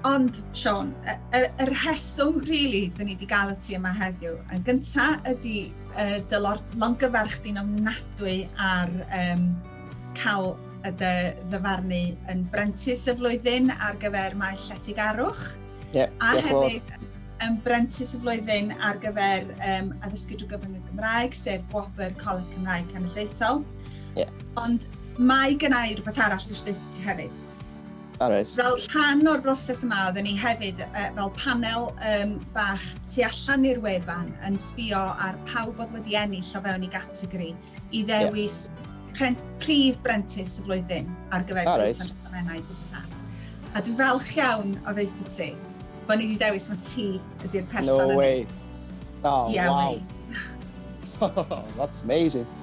Ond, Siôn, y, y, y rheswm, really, da ni wedi gael y ti yma heddiw, yn gynta ydy uh, dy longyfarch di'n ofnadwy ar um, cael y dy ddyfarnu yn brentis y flwyddyn ar gyfer maes lletig arwch. Yeah, a hefyd yn brentis y flwyddyn ar gyfer um, addysgu drwy gyfrwng y Gymraeg, sef Gwobr Coleg Cymraeg Cenedlaethol. Yeah. Ond mae gyna i rhywbeth arall dwi eisiau dweud ti hefyd. Alright. Fel rhan o'r broses yma, oedden ni hefyd uh, fel panel um, bach tu allan i'r wefan yn sbio ar pawb oedd wedi ennill o fewn i gategori i ddewis yeah. prif brentis y flwyddyn ar gyfer right. Penrhydfennau Busnad. A dwi'n falch iawn o ddeitha ti, bod ni wedi dewis mae ti ydy'r person No way. Oh, yeah, wow. Way. That's amazing.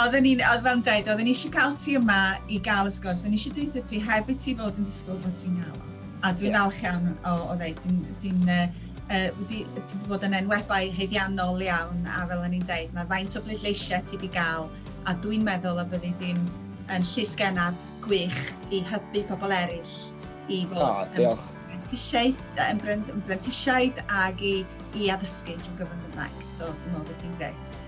Oedden ni'n, fel o'n i'n deud, oedden ni eisiau cael ti yma i gael y sgwrs, o'n i eisiau deutha ti heb i ti fod yn disgwyl bod ti'n cael o. A dwi'n falch iawn o o ddeud, ti'n ti'n wedi ti wedi bod yn enwebai haeddiannol iawn a fel o'n i'n deud, mae faint o bleidleisiau ti wedi cael a dwi'n meddwl y byddi di'n yn llysgennad gwych i hybu pobl eraill i fod... O, diolch. ...yn brentisiaid ac i addysgu drwy gyfrwng y Gymraeg. So, dwi'n meddwl bod ti'n grêt.